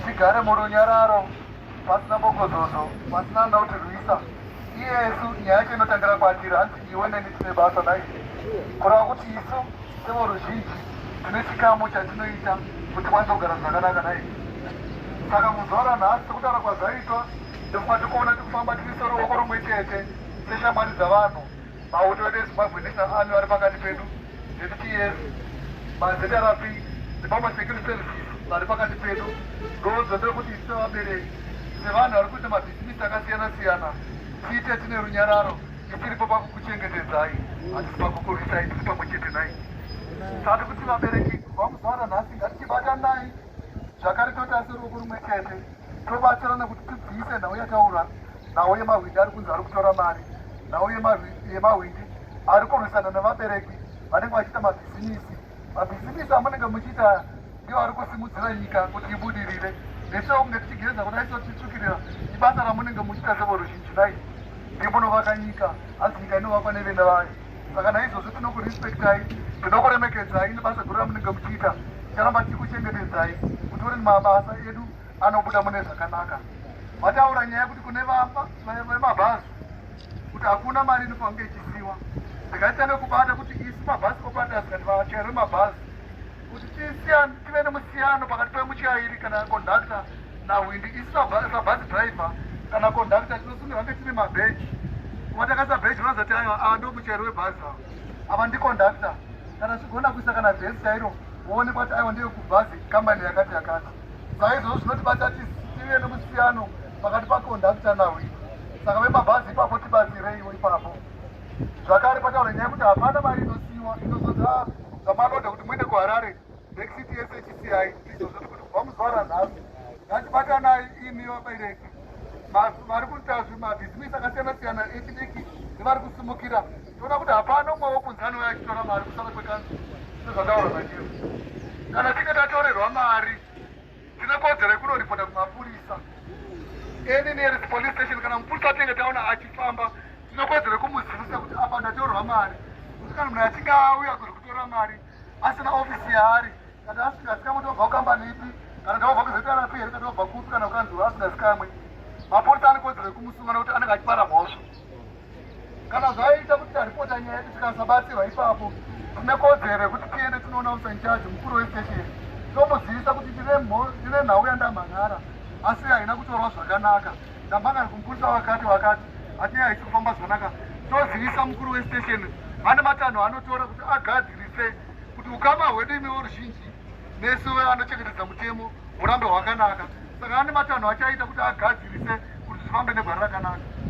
tigare murunyararo pasina bogozozo pasina anoda kuti rwisa iyesu nyaya yacho inotangira kwatiri hanzi iwe neni tine basa nai kureva kuti isu sevoruzhinji tine chikamu chatinoita kuti kwanisa kugara zvakanaka nai saka muzuva ranhasi sekutaura kwazvaitwa ndofunga tikuona tikufamba tiri seruoko rumwe chete seshamwari dzavanhu Mauto edu eZimbabwe National Army vari pakati pedu, ZPS, maZRP, Zimbabwe Security Services vari pakati pedu. Ndozvo ndekuti isu sevabereki, sevanhu vari kuita mabhizinisi akasiyana siyana, tiite tine runyararo, tisiripo pakukuchengetedzai, hatisi pakukurwisai, tiri pamwe chete nai. Sati kuti vabereki kubva kuzvara nhasi ngatichibatanai zvakare totarisirwa kurume chete. tobatsirana kuti tibvise nhau yataura nhau yemahwindi ari kunzi ari kutora mari nhau yemahwindi ari kurwisana nevabereki vanenge vachiita mabhizimisi mabhizimisi amunenge muchiita ndiwo ari kusimudzira nyika kuti ibudirire nesuwo kunge tichigeza kudai so tichitsukirira ibasa ramunenge muchiita sevoruzhinji nai ndimunovaka nyika hanzi nyika inovakwa nevenda vayo saka naizvozvo tinokurespectai tinokuremekedzai nebasa guru ramunenge muchiita ticharamba tichikuchengetedzai kuti uri mabasa edu anobuda mune zvakanaka vataura nyaya yekuti kune vemabhazi kuti hakuna mari inofange ichisiwa ndikatanga kubata kuti isu mabhazi operators kati vachairo mabhazi kuti tive nemusiyano pakati pemuchairi kana kondakta nahwindi isu sabhasi driver kana kondakta tinosungirwa kunge tine mabheji kuva takaisa bheji unozoti aiwa ava ndo muchairi webhazi ava ava ndikondakta kana zvichigonda kuisa kana vhesi chairo woonekwa kuti aiwa ndiyo kubhazi kambani yakati yakati saka izvozvo zvinotibata tive nemusiyano pakati pakondakta nahwindi saka vemabhazi ipapo tibatsireiwo ipapo zvakare pataura nyaya yekuti hapana mari inosiyiwa inozoti zvamanoda kuti muende kuharare nexiti yese chisiyayi izvo zviri kuti kubva muzvara nhasi ngatibatanai imi vabereki vari kuita zvimabhizimisi akasiyana siyana echidiki nevari kusimukira toona kuti hapana umwe wokunzi anouya achitora mari kusara kwekanzi sezvataura zvachiyo kana tinge tatorerwa mari Ndine kodzero yekunoripota kumapurisa any nearest police station kana mupurisa atenge taona achifamba ndine kodzero yekumuzivisa kuti apa ndatorwa mari kuti kana munhu achinge auya kuri kutora mari asina ofisi yaari kana asikazikamwe tobva kukambani ipi kana tobva kuzitarapi here kana tobva kupi kana kukanzura asingazikamwe mapurisa ane kodzero yekumusunga nekuti anenge achipara mhosva kana zvaiita kuti taripota nyaya yedu tikasabatsirwa ipapo tine kodzero yekuti tiende tinoona usanchaji mukuru westation tomuzivisa kuti ndine nhau yandamhan'ara asi haina kutorwa zvakanaka ndamhan'ari kumupurisa wakati wakati ati haisi kufamba zvakanaka tozivisa mukuru westation vane matanho anotora kuti agadzirise kuti ukama hwedu imi voruzhinji nesu anochengetedza mutemo hurambe hwakanaka saka ane matanho achaita kuti agadzirise kuti zvifambe negwara rakanaka